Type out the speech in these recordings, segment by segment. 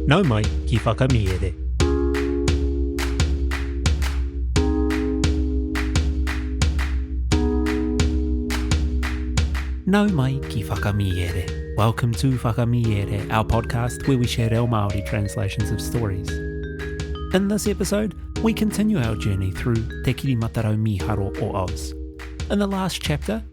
Nau mai ki Whakamiere. Nau mai ki Whakamiere. Welcome to Whakamiere, our podcast where we share reo Māori translations of stories. In this episode, we continue our journey through Te Kirimatarau Mīharo o Oz. In the last chapter,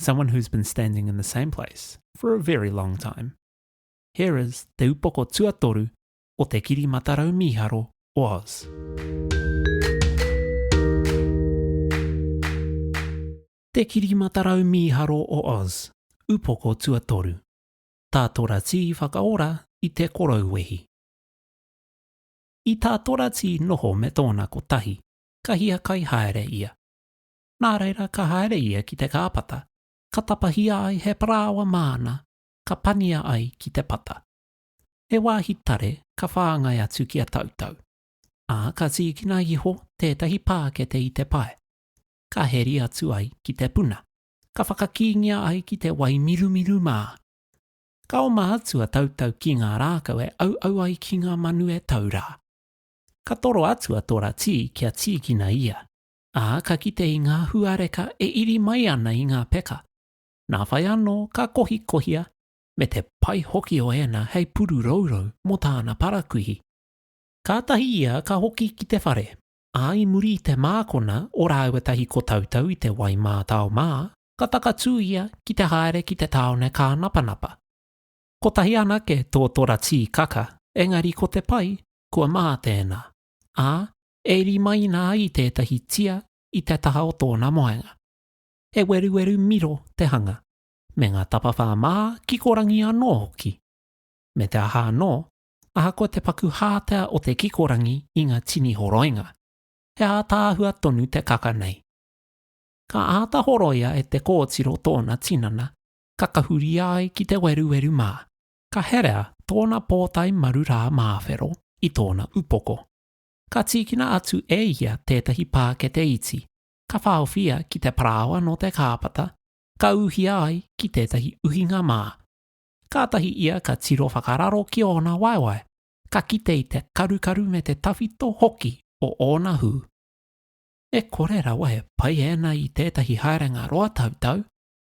someone who's been standing in the same place for a very long time. Here is te upoko tuatoru o te kiri matarau mīharo o Oz. Te kiri matarau mīharo o Oz, upoko tuatoru. Tātora tī whakaora i te korou wehi. I tātora tī noho me tōna kotahi, ka hiakai haere ia. nā reira ka haere ia ki te kāpata, ka tapahia ai he parāoa māna, ka pania ai ki te pata. He wāhi tare ka whāngai atu ki a Tautau, ā, ka tīkina iho tētahi pākete i te pae, ka heri atu ai ki te puna, ka whakakīngia ai ki te wai mirumiru mā. Ka oma atu a Tautau ki ngā rākau e auau ai ki ngā manu e tau rā. Ka toro atu a Tora Tī kia tīkina ia, ā, ka kite i ngā huareka e iri mai ana i ngā peka. Nā whai anō ka kohikohia me te pai hoki o ēnā hei puru rourou mō tāna parakuihi. Kātahi ia ka hoki ki te whare, ā, i muri i te mākona o rāua tahi ko Tautau i te wai mātao mā, ka takatū ia ki te haere ki te tāone kānapanapa. Kotahi anake tō tora tīkaka, engari ko te pai, kua mā tēnā, ā, E rimaina ai tētahi tia i te taha o tōna moenga. He weruweru miro te hanga, me ngā tapawhā mā kikorangi anō hoki. Me te aha anō, ahakoa te paku hātea o te kikorangi i ngā tini horoinga, he ātaahua tonu te kaka nei. Ka āta horoia e te kōtiro tōna tinana ka kahuria ai ki te weruweru mā, ka herea tōna pōtae maru rā māwhero i tōna upoko. Ka tīkina atu e ia tētahi pākete iti, ka whaowhia ki te parāoa nō te kāpata, ka ūhia ai ki tētahi uhinga mā. Kātahi ia ka tiro whakararo ki ōna waewae, ka kite i te karukaru me te tawhito hoki o ōna hū. E kore rawa e pai ēnā i tētahi haerenga roa tautau,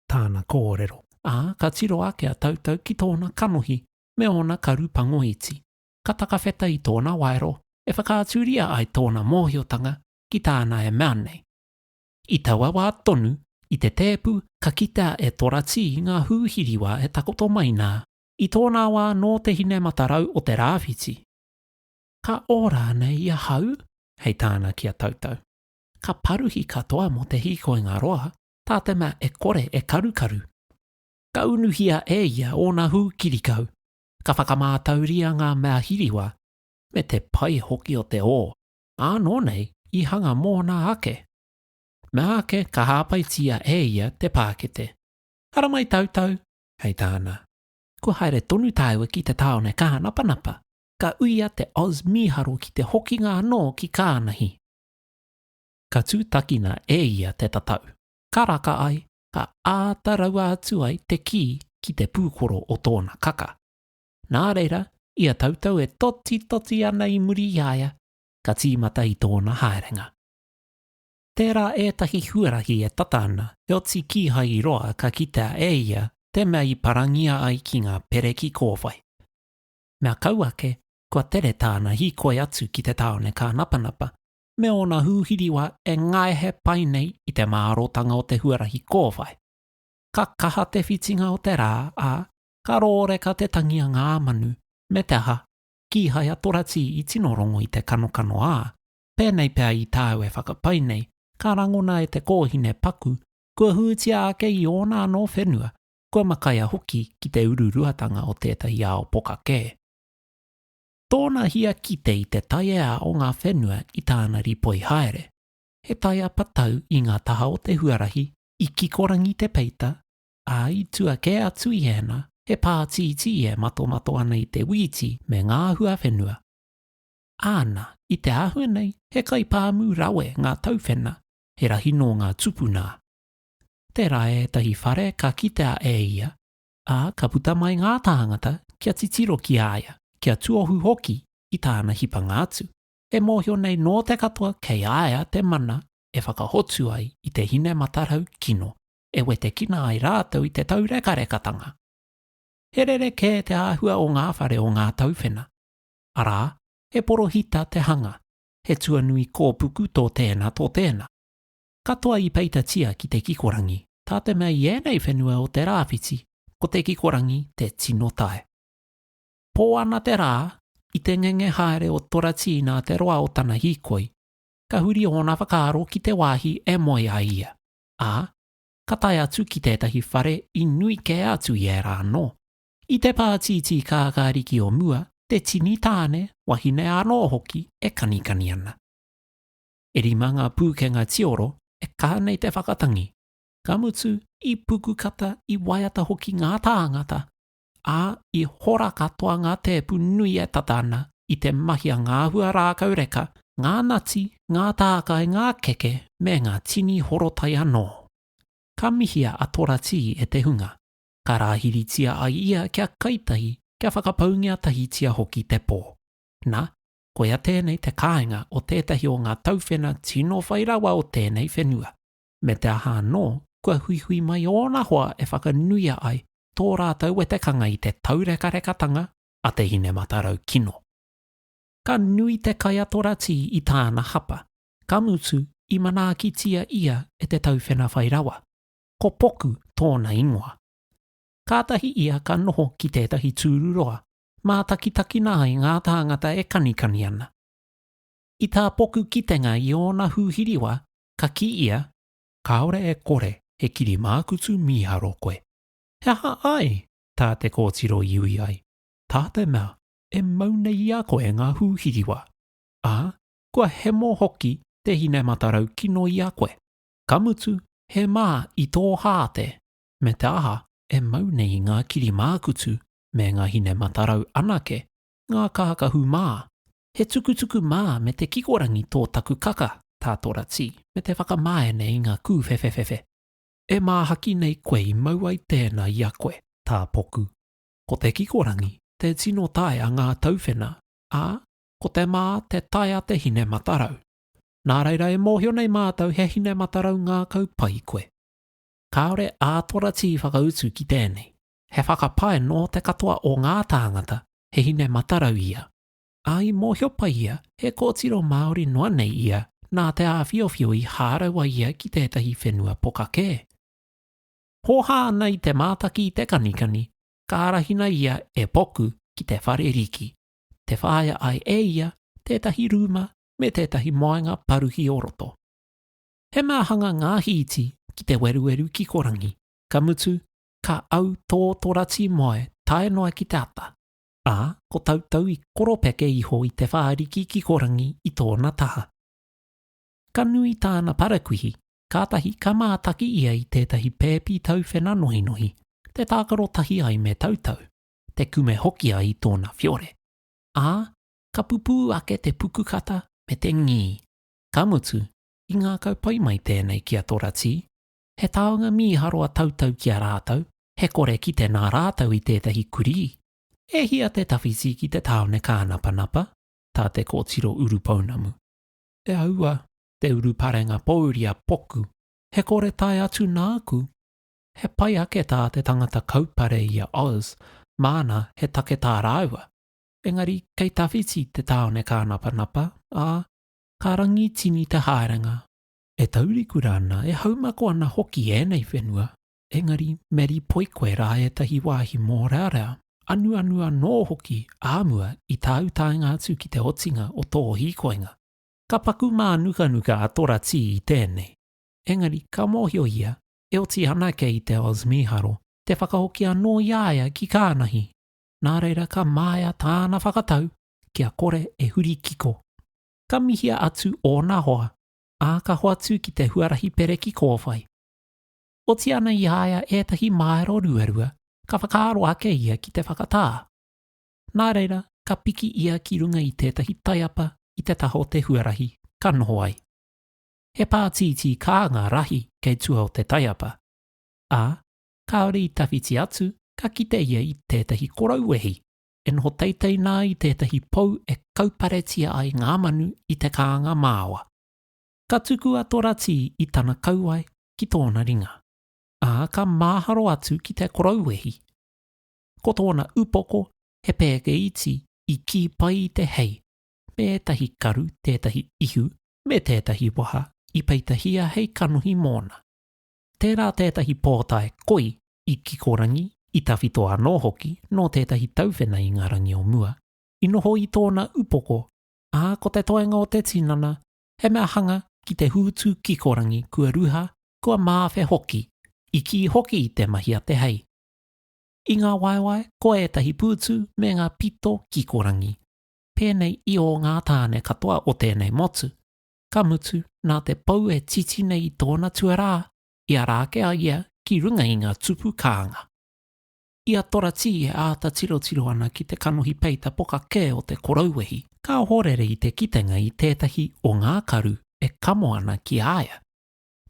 tāna kōrero, ā, ka tiro ake a Tautau ki tōna kanohi me ōna karu pango iti. ka takawheta i tōna waero e whakaaturia ai tōna mōhiotanga ki tāna e mea nei. I taua wā tonu, i te tēpu ka kitea e Toratī ngā hūhiriwa e takoto mai nā, i tōnā wā nō te hine matarau o te rāwhiti. Ka ora nei i ahau? hei tāna ki a Tautau. Ka paruhi katoa mō te hīkoinga roa, tā te mea e kore e karukaru. Ka unuhia e ia ōna hū kirikau, ka whakamātauria ngā mea hiriwa me te pai hoki o te ō, ānō nei i hanga mōna ake. Meāke ka hāpaitia e ia te pākete. Haramai tautau, hei tāna. Kua haere tonu tāua ki te tāone Kahanapanapa, ka uia te Oz mīharo ki te hokinga anō ki Kānahi. Ka tūtakina e ia te tatau, ka raka ai, ka āta raua atu ai te kī ki te pūkoro o tōna kaka. Nā reira, i a tautau e totitoti ana i muri i a ia, ka tīmata i tōna haerenga. Tērā ētahi huarahi e tata ana, heoti kīhai i roa ka kitea e ia te mea i parangia ai ki ngā pere ki kōwhai. Mea kau ake, kua tere tāna hīkoi atu ki te tāone kānapanapa, me ōna hūhiriwa e ngaehe pai nei i te mārōtanga o te huarahi kōwhai. Ka kaha te whitinga o te rā, ā, ka rōreka te tangi a ngā manu, me te aha, kīhai a Toratī i tino rongo i te kanokano ā, pēnei pea i tāu e whakapai nei, ka rangona e te kōhine paku, kua hūtia ake i ōna anō whenua, kua makaia hoki ki te ururuatanga o tētahi ao poka kē. Tōna hia kite i te taiea o ngā whenua i tāna rīpoi haere, he taiea patau i ngā taha o te huarahi i kikorangi te peita, ā, i tua kē atu i ēnā, he pā tītī e matomato ana i te wīti me ngā huawhenua. Āna, i te āhua nei, he kaipāmu rawe ngā tauwhena, he rahi nō ngā tupu nā. Tērā ētahi whare ka kitea e ia, ā, ka puta mai ngā tāngata kia titiro ki a ia, kia tuohu hoki i tāna hipanga atu, e mōhio nei nō te katoa kei a ia te mana e whakahotu ai i te hine matarau kino e wetekina ai rātou i te taurekarekatanga. He rerekē te āhua o ngā whare o ngā tauwhena, arā, he porohita te hanga, he tuanui kōpuku tō tēnā tō tēnā. katoa i peitatia ki te kikorangi, tā te mea i ēnei whenua o te rāwhiti, ko te kikorangi te tino tae. Pō ana te rā, i te ngenge haere o Toratī nā te roa o tana hīkoi, ka huri ōna whakaaro ki te wāhi e moe ai ia, ā, ka tae atu ki tētahi whare i nui kē atu i ērā anō. I te pātītī kākāriki o mua, te tini tāne, wahine anō hoki e kanikani ana. E rima ngā pūkenga tioro e kaha nei te whakatangi, ka mutu i pukukata, i waiata hoki ngā tāngata, ā, i hora katoa ngā tēpu nui e tata ana i te mahi a ngā hua rākau reka, ngā nati, ngā tākai, ngā keke, me ngā tini horotai anō. Ka mihia a Tora Tī e te hunga, ka rāhiritia ai ia kia kai tahi, kia whakapaungia tahitia hoki te pō. Na, koia tēnei te kāinga o tētahi o ngā tauwhena tino whai rawa o tēnei whenua, me te aha anō, kua huihui mai ōna hoa e whakanuia ai tō rātou wetekanga i te taurekarekatanga a te hinematarau kino. Ka nui te kaiatora tī i tāna hapa, ka mutu i manaakitia ia e te tauwhena whai rawa, ko Poku tōna ingoa. Kātahi ia ka noho ki tētahi tūruroa Mātakitakina ai ngā tāngata e kanikani ana. I tā Poku kitenga i ōna hūhiriwa, ka kī ia, Kāore e kore he kiri mākutu mīharo koe. He aha ai tā te kōtiro i ui ai? Tā te mea e mau nei i a koe ngā hūhiriwa, ā, kua hemo hoki te hine matarau kino i a koe, ka mutu he mā i tō hā te, me te aha e mau nei ngā kiri mākutu me nga hine matarau anake, nga kahakahu ma, he tukutuku ma me te kikorangi to taku kaka, ta tora ti, me te whakamaene i nga kuwhewhewhewe. E mahaki nei koe i mau ai tena i a koe, ta poku. Ko te kikorangi te tino tae a nga tauwhena, a, ko te ma te tae a te hine matarau. Na reira e mohio nei matou he hine matarau ngakau pai koe. Kaore a tora ti whakautu ki tenei. He whakapae nō te katoa o ngā tāngata, he hine matarau ia. Ā, i mōhio pai ia, he kōtiro Māori noa nei ia, nā te āwhiowhio i hārau ai ia ki tētahi whenua poka kē. Hōhā ana i te mātaki i te kanikani, ka arahina ia e Poku ki te whare riki, te whāia ai e ia tētahi rūma me tētahi moenga paruhi o roto. He mea hanga ngā hīti ki te weruweru kikorangi, ka mutu, ka au tō torati moe tae noa ki te ata, ā, ko tautau i koropeke iho i te whāriki kikorangi i tōna taha. Ka nui tāna parakuihi, kātahi ka mātaki ia i tētahi pēpi tauwhena nohinohi, te tākaro tahi ai me tautau, te kume hoki ai i tōna whiore, ā, ka pupū ake te pukukata me te ngī. Ka mutu, i ngākau pai mai tēnei ki a Toratī, he taonga mīharo a tautau ki a rātou, he kore kite nā rātou i tētahi kurī. E hia te tawhiti ki te tāone kānapanapa, tā te kōtiro urupounamu. E aua, te uruparenga pōuri a Poku, he kore tae atu nāku. He pai ake tā te tangata kaupare i a Oz, māna he take tā rāua. Engari kei tawhiti te tāone kānapanapa, ā, ka rangi tini te haerenga. e taurikura ana, e haumako ana hoki ēnei whenua, engari me rīpoi koe rā ētahi wāhi mōrearea, anuanu anō hoki ā mua i tāu taenga atu ki te otinga o tō hīkoinga. Ka paku mānukanuka a Tora Tī i tēnei, engari ka mōhio ia e oti ana kei te Oz mīharo te whakahoki anō i a ia ki Kānahi, nā reira ka māia tāna whakatau kia kore e huri kiko. Ka mihia atu ōna hoa ā, ka hoatu ki te huarahi pereki kōwhai. Oti ana i a ia ētahi māero ruarua, ka whakaaro ake ia ki te whakatā. Nā reira, ka piki ia ki runga i tētahi taiapa i te taha o te huarahi, ka noho ai. He pātītī kā ngā rahi kei tua o te taiapa, ā, kāore i tawhiti atu ka kite ia i tētahi korou wehi. e noho teitei nā i tētahi pou e kauparetia ai ngā manu i te kānga māoa. Ka tuku a Toratī i tana kauae ki tōna ringa, ā, ka māharo atu ki te korouwehi. Ko tōna upoko he pēke iti i kī pai i te hei, me ētahi karu, tētahi ihu, me tētahi waha i peitahia hei kanohi mōna. Tērā tētahi pōtae koi i Kikorangi, i tawhito anō hoki nō tētahi tauwhena i ngā rangi o mua, i noho i tōna upoko, ā, ko te toenga o te tinana, he mea hanga ki te hūtu kikorangi kua ruha, kua māwhe hoki, i kī hoki i te mahi a te hei. I ngā waewae, ko ētahi pūtu me ngā pito kikorangi, pēnei i ō ngā tāne katoa o tēnei motu, ka mutu, nā te pou e titi nei i tōna tuarā, i ara ake a ia ki runga i ngā tupu kānga. I a Toratī e āta tirotiro ana ki te kanohi peita poka kē o te korouwehi, ka ohorere i te kitenga i tētahi o ngā karu e kamo ana ki a ia.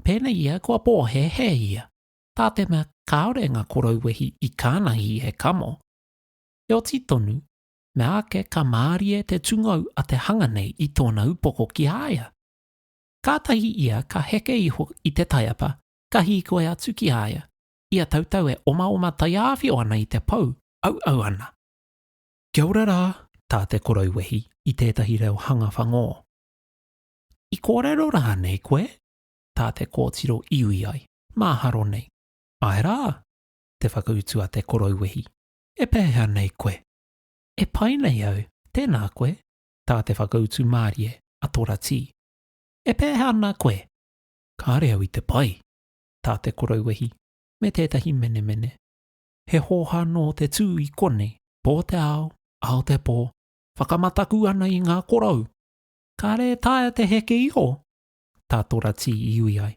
Pēnei ia kua pōhēhē ia, tā te mea kāore ngā korouwehi i kānahi e kamo. Heoti tonu, Mea ake ka mārie te tungou a te hanga nei i tōna upoko ki a ia. Kātahi ia ka heke iho i te taiapa, ka hīkoi atu ki a ia, ia tautau e omaoma taiāwhio ana i te pou, auau ana. Kia ora rā, tā te korou wehi i tētahi reo hanga whangō. I kōrero rānei koe? tā te kōtiro i ui ai, māharo nei. Āe rā, te whakautu a te korou wehi. E pēhea nei koe? E pai nei au, tēnā koe, tā te whakautu mārie a Toratī. E pēhea ana koe? Kāre au i te pai, tā te korouwehi, me tētahi menemene. He hōhā nō te tū i konei, pō te ao, ao te pō, whakamataku ana i ngā korou. Kāre e taea te heke iho? tā Toratī i ui ai.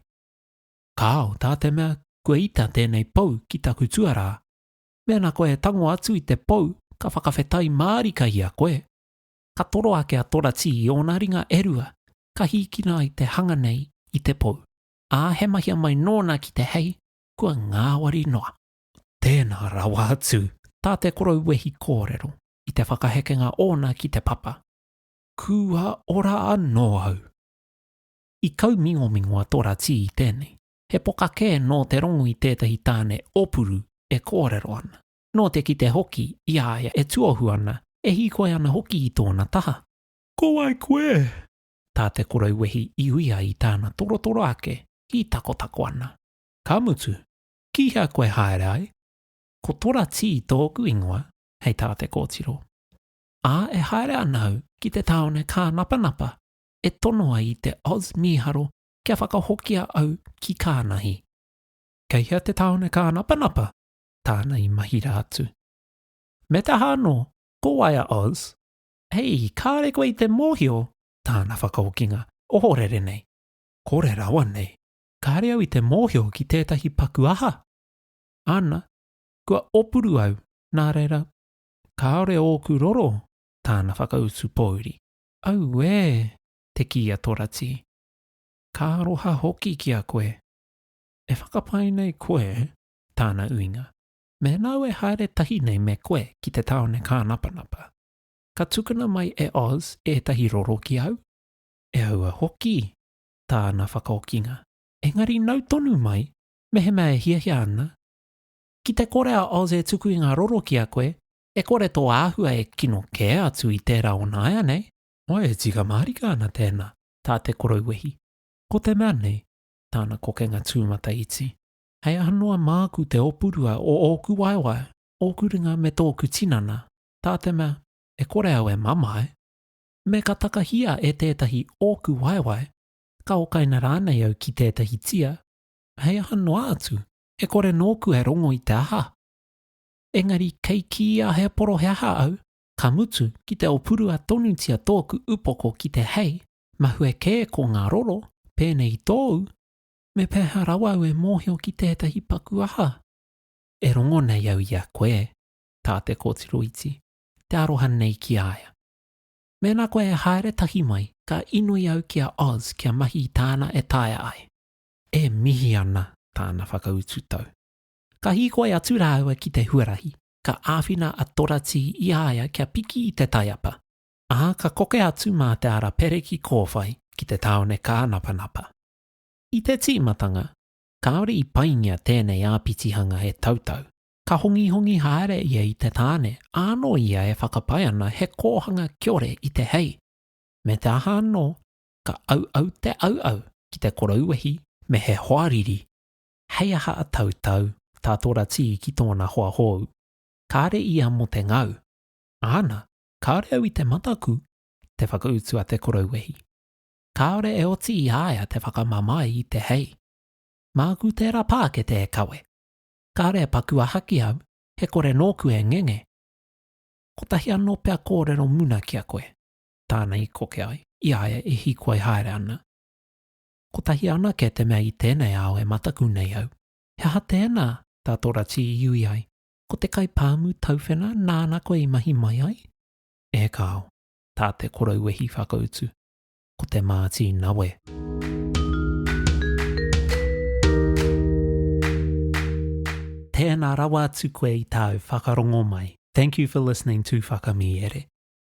Kāo, tā te mea kua ita tēnei pou ki taku tuarā. Mēnā koe e tango atu i te pou, ka whakawhetai mārika i a koe. Ka toro ake a Toratī i ōna ringa e rua, ka hīkina ai te hanga nei i te pou, ā, he mahia mai nōna ki te hei, kua ngāwari noa. Tēnā rawa atu tā te korou wehi kōrero i te whakahekenga ōna ki te papa. Kua ora anō au. I kaumingomingo a Toratī i tēnei, He poka kē nō te rongu i tētahi tāne ōpuru e kōrero ana. Nō te kite hoki i a ia e tuohu ana, e hīkoi ana hoki i tōna taha. Ko wai koe? tā te korou wehi i uia i tāna torotoro ake, hītakotako ana. Ka mutu, ki hea koe haere ai? Ko Tora Tī tōku ingoa, hei tā te kōtiro. Ā, e haere ana au ki te tāone kānapanapa e tonoa i te Oz mīharo kia whakahokia au ki Kānahi. Kei hea te tāone kānapanapa? Tāna i mahira atu. Me te aha anō, ko wai a Oz? Hei, kāre koe i te mōhio? Tāna whakahokinga, ohorere nei. Kore rawa nei. Kāre au i te mōhio ki tētahi paku aha? Ana, kua opuru au, nā reira, kāore ōku roro, Tāna whakautu pōuri. Auē! te kī a Toratī. Ka aroha hoki ki a koe. E whakapae nei koe, tāna uinga, mēnāu e haere tahi nei me koe ki te tāone kānapanapa, ka tukuna mai e Oz ētahi roro ki au? E aua hoki, tāna whakaokinga. Engari nau tonu mai, mehemea e hiahia ana, ki te kore a Oz e tuku i ngā roro ki a koe, e kore tō āhua e kino kē atu i tērā o nāianei, Ae e tika mārika ana tēnā, tā te Korouwehi. Ko te mea nei, tāna kokenga tūmata iti. Hei aha noa māku te opurua o ōku waewae, ōku ringa me tōku tinana, tā te mea, e kore au e mamae, me ka takahia e tētahi ōku waewae, ka okaina rānei au ki tētahi tia, hei aha noa atu, e kore nōku e rongo i te aha. Engari kei kīia he poroheaha au, Ka mutu, ki te opurua tonutia tōku upoko ki te hei, mahue kē ko ngā roro, pēnei i tōu, me pēhea rawa au e mōhio ki tētahi paku aha? E rongo nei au i a koe, tā te kōtiro iti, te aroha nei ki a ia. Mēnā koe e haere tahi mai, ka inoi au ki a Oz kia mahi i tāna e taea ai. E mihi ana tāna whakautu tau. Ka hīkoi atu rāua ki te huarahi, ka āwhina a Toratī i a ia kia piki i te taiapa, ā, ka koke atu mā te ara pere ki kōwhai ki te tāone kānapanapa. I te tīmatanga, kāore i paingia tēnei āpitihanga e Tautau. Ka hongihongi haere ia i te tāne, ānō ia e whakapae ana he kōhanga kiore i te hei. Me te aha anō, ka auau te auau ki te korou wehi me he hoariri. Hei aha a Tautau, tā Toratī ki tōna hoa hōu. Kāre ia mō te ngau. Āna, kāore au i te mataku, te whakautu a Te Korouwehi. Kāore e oti i a ia te whakamamae i te hei. Māku tērā pākete e kawe. Kāore e paku aha ki au, he kore nōku e ngenge. Kotahi anō pea kōrero muna ki a koe, tāna i koke ai, i a ia e hīkoi haere ana. Kotahi anake te mea i tēnei ao e mataku nei au. He aha tēnā? tā tō Rati i iui ai. Ko te kai pāmu tauwhena nāna koe i mahi mai ai? E kāo, tā te korouwehi whakautu. Ko te māti nawe. Tēnā rawa atu koe i tāu whakarongo mai. Thank you for listening to Whakamīere.